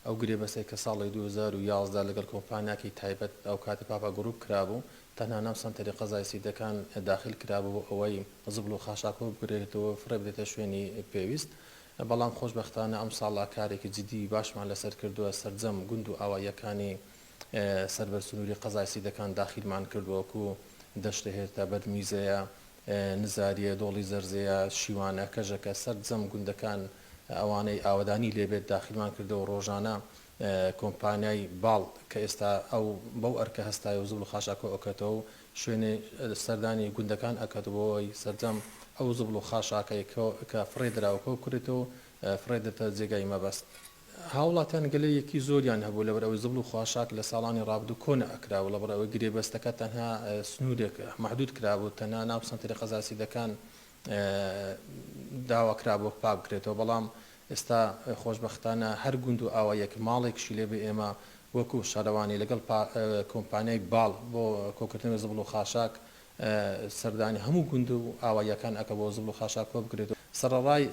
ئەو گرێبەستەی کە ساڵی دوو هەزار و یازدە لەگەڵ کۆمپانیاکەی تایبەت ئەوکاتی پاپا گروپ کرابوو، تەنها ناو سەنتەری قەزای سیدەکان داخیل کرابوو بۆ ئەوەی زبڵ و خاشاکۆ بگرێتەوە و فڕێ بدرێتە شوێنی پێویست، بەڵام خۆشبەختانە ئەمساڵا کارێکی جدی و باشمان لەسەر کردووە، سەرجەم گوند و ئاواییەکانی سەر بە سنووری قەزای سیدەکان داخیلمان کردووە وەکو، دەشتە هێرتە، بەرمیزەیە، نزارییە، دۆڵی زەرزێیە، شیوانە، کەژەکە، سەرجەم گوندەکان، ئەوانەی ئاوەدانی لێبێت داخیلمان کردەوە ڕۆژانە کۆمپانیای باڵ کە ئێستا ئەو بەو ئەرکە هەستایە و زبڵ و خاشاکۆ ئەکەتەوە و شوێنێ سەردانی گوندەکان ئەکات بۆ ئەوەی سەرجەم ئەو زبڵ و خاشاکەی کە فڕێ دراوە کۆ بکرێتەوە و فڕێ درێتە جێگای مەبەست. هاوڵاتیان گلەیەکی زۆریان هەبوو لەبەر ئەوەی زبڵ و خاشاک لە ساڵانی ڕابردوو کۆ نەئەکرا و لەبڕ ئەوەی گرێبەستەکە تەنها سنوورێک مەحدوود کرابوو تەنها ناو سەنتەری قەزا سیدەکان داواکرابوو پاکبکرێتەوە، بەڵام ئێستا خۆشبەختانە هەر گوند و ئاواییەک ماڵێکیشی لێبێ ئێمە وەکو شارەوانی لەگەڵ کۆمپانیای باڵ بۆ کۆکردنەوەی زبڵ و خاشاک سەردانی هەموو گوند و ئاواییەکان ئەکەم بۆ زبڵ و خاشاک کۆبکرێتەوە سەڕەڕای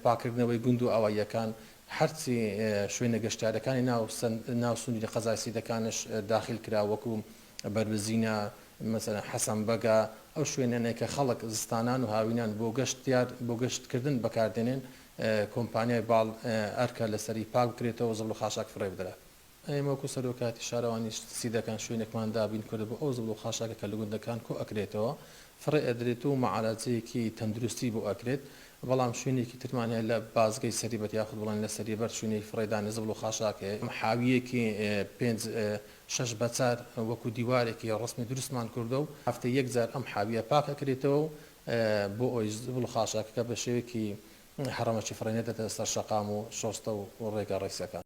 پاککردنەوەی گوند و ئاواییەکان هەرچی شوێنە گەشتیارەکانی ناو سنووری قەزای سیدەکانش داخیلکرا وەکو بەربزینە، مەسەلەن حەسەن بەگە، ئەو شوێنەنەی کە خەڵک زستانان و هاوینان بۆ گەشت یار بۆ گەشت کردن بەکار دێنێن، کۆمپانیای باڵ ئەرکە لەسەری پاک بکرێتەوە و زبڵ و خاشاک فڕێ بدرا. ئێمە وەکوو سەرۆکایەتی شارەوانیش چی دەکەن، شوێنێکمان دابین کردبوو ئەو زبڵ و خاشاکە کە لە گوندەکان کۆ ئەکرێتەوە فڕێ ئەدرێت و مەعالەجەیەکی تەندروستی بۆ ئەکرێت، بەڵام شوێنێکی ترمان هەیە لە بازگەی سەریبەر یاخود بڵێن لە سەریبەر شوێنێکی فڕێدانی زبڵ و خاشاک هەیە، حاوییەکی پێنج شەش بە چار وەکو دیوارێکی ڕەسمی دروستمان کردوە و هەفتەی یەک جار ئەم حاویە پاک ئەکرێتەوە و بۆ ئەوەی زبڵ و خاشاکەکە بە شێوەیەکی هەڕەمەکی فڕێ نەدەتە سەر شەقام و شۆستە و ڕێگا ڕیزەکان.